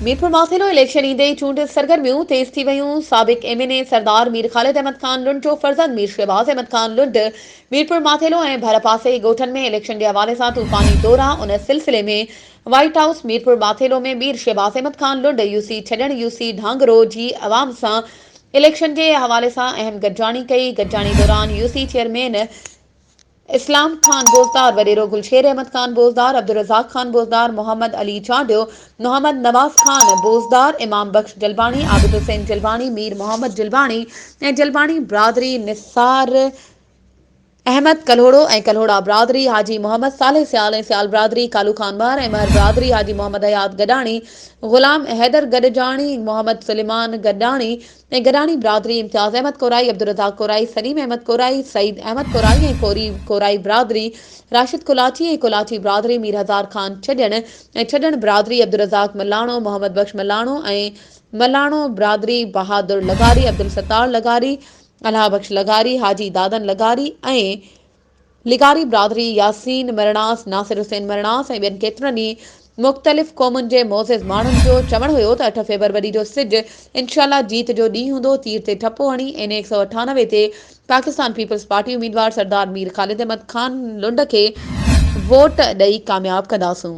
Mirpur Mathelo election ايندي ئي چونڊ سرگرميون تيز ٿي ويون، سابق ايم اين اي سردار مير خالد احمد خان لنڊ جو فرزند مير شهباز احمد خان لنڊ ميرپورماٿيلو ۽ ڀرپاسي ڳوٺن ۾ اليڪشن جي حوالي سان طوفاني دورا ان سلسلي ۾ white house Mirpur Mathelo ۾ Mir Shahbaz Ahmed Khan Lund U سي ڇڏڻ يو سي ڍانگرو جي عوام سان اليڪشن جي حوالي سان اهم گڏجاڻي ڪئي گڏجاڻي دوران U C chairman Islam Khan Bozdar وڏيرو، گلشير احمد خان بوزدار، عبدالرزاق خان بوزدار، محمد علي چانڊيو، محمد نواز خان بوزدار، امام بخش جلباڻي، عابد حسين جلباڻي، مير محمد جلباڻي ۽ جلباڻي برادري، نثار احمد ڪلهوڙو ۽ ڪلهوڙا برادري، حاجي محمد صالح سيال ۽ سيال برادري، ڪالو خان مهر ۽ مهر برادري، حاجي محمد حيات گڏاڻي، غلام حيدر گڏجاڻي، محمد سليمان گڏاڻي، ۽ گڏاڻي برادري امتياز احمد ڪورائي، عبدالرزاق ڪورائي، سليم احمد ڪورائي، سعيد احمد ڪورائي ۽ ڪوري ڪورائي برادري، راشد ڪولاچي ۽ ڪولاچي برادري، مير هزار خان ڇڄڻ ۽ ڇڄڻ برادري، عبدالرزاق ملاڻو، محمد بخش ملاڻو ۽ ملاڻو برادري، بهادر لغاري، عبدالستار لغاري، الهه بخش لغاري، حاجي دادن لغاري ۽ لغاري برادري، ياسين مرڻاس، ناصر حسين مرڻاس ۽ ٻين ڪيترن ئي مختلف قومن جي معزز ماڻهن جو چوڻ هيو ته اٺ فيبروري جو سج انشاء الله جيت جو ڏينهن هوندو، تير تي ٺپو هڻي اين اي هڪ سؤ اٺانوي تي پاڪستان پيپلز پارٽي اميدوار سردار مير خالد احمد خان لنڊ کي ووٽ ڏئي ڪامياب ڪنداسون.